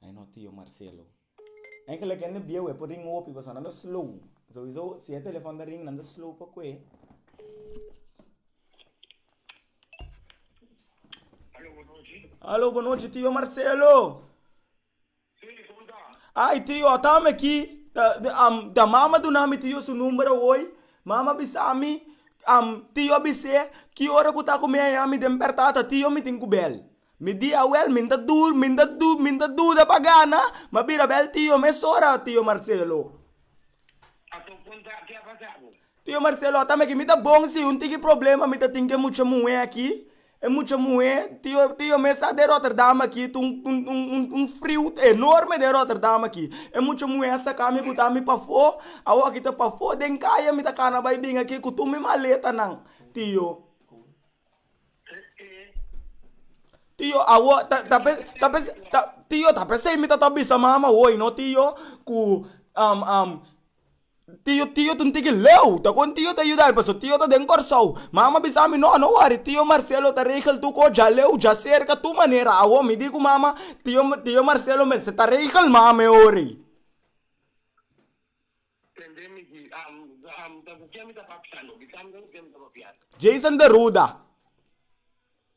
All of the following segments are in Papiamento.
Ai no tio Marcelo. En gelijk en de bieuw, e por ring hopi, pasobra nan ta slow. Sowieso, si e telefòn ta ring, nan ta slow pa koe. Alo, bonochi. Alo, bonochi, tio Marcelo! A i tio a tami aki ta mama duna mi tio su number awoy mama bisa mi tio a bise ki ora ku ta ku mi aña mi den pertata tio mi tin ku bel mi di awel mi ta dur mi ta dur mi ta duda pa gana ma bira bel tio mes ora tio marcelo tio marcelo a tami aki mi ta bon si un tigi problema mi ta tin ke mucha muhe aki E mucha muhé te yo te yo mes sa den Rotterdam aki ta un un un un un friu enorme den Rotterdam aki e mucha muhé a saka mi botá mi pafó awo aki ta pafó den kaya mi ta kana bai bin aki ku tur mi maletanan tin yo tin yo awo ta ta pes ta pes ta tin yo ta pes ei mi ta ta bisa mama woy no tin yo ku Tio tio ta un tiki leu ta con tio ta yudami paso tio ta den Kòrsou mama bisami no no wòri tio Marcelo ta regel tur kos dja leu dja serka tur manera awor mi di ku mama tio tio Marcelo mester ta regel mama e ora ei. Jason de Ruda.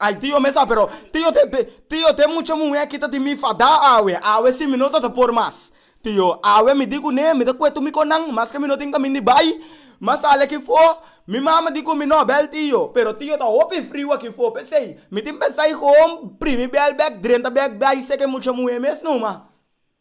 Ay tio mesa pero tio tio te mucha muhe aki ta di mi fada awe awe si mi no ta ta por mas tio awe mi di kune mi ta kue tu mi konan mas ke mi no tin kamin di bai ma sali aki fo mi mama di ku mi no bel tio pero tio ta hopi friu aki fo pesey mi tin pensai hom primi bel bek drenta bek bai seke mucha muhe mes numa.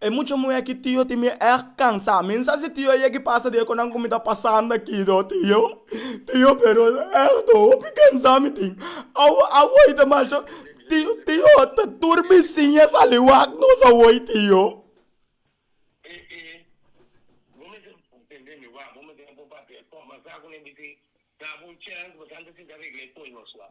E mucha muhé ki tio tin mie èg kansá. Mi sa si tio yegi pasa di e konan ku mi ta pasando akí do. Tio, tio pero èg do hopi kansá mi tin. Awo awòi ta mal cho. Tio, tio ta tur bisin a sali wak nos awòi tio. E, e, bo mester tende mi wak, bo mester pon papel. Kòm, masá ku mi a bisa, dá bo un chèns, bo sa ta sinta regla e koi nos wak.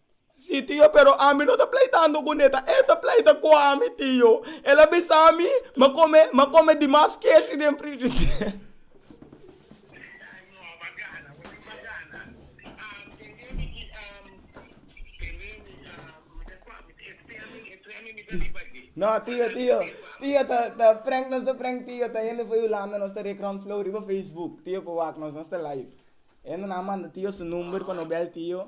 Sí, tio, pero ami no ta pleitando cu Neta, e ta pleita cu ami, tio. El a bisa mi m'a come, m'a come dimas keshri den frigider. No, tio, tio, tio ta, ta prank, nos ta prank, tio, ta hende fo'i Hulanda, nos ta rekran flow riba Facebook, tio, pa wak nos, nos ta live. Hende nan a manda tio su number pa no bel, tio,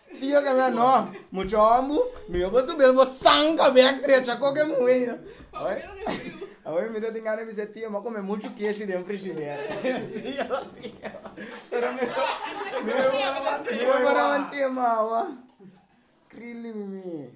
Tio ke ngha no mucha ombu mi yo bo su bel bo sanka bek drecha ko ke muhe yo awe mi ta tin gana bishe tio m'a kome muchu keshi den frishider tio tio pero mi no mi no por a manten m'a awa krili mi mi.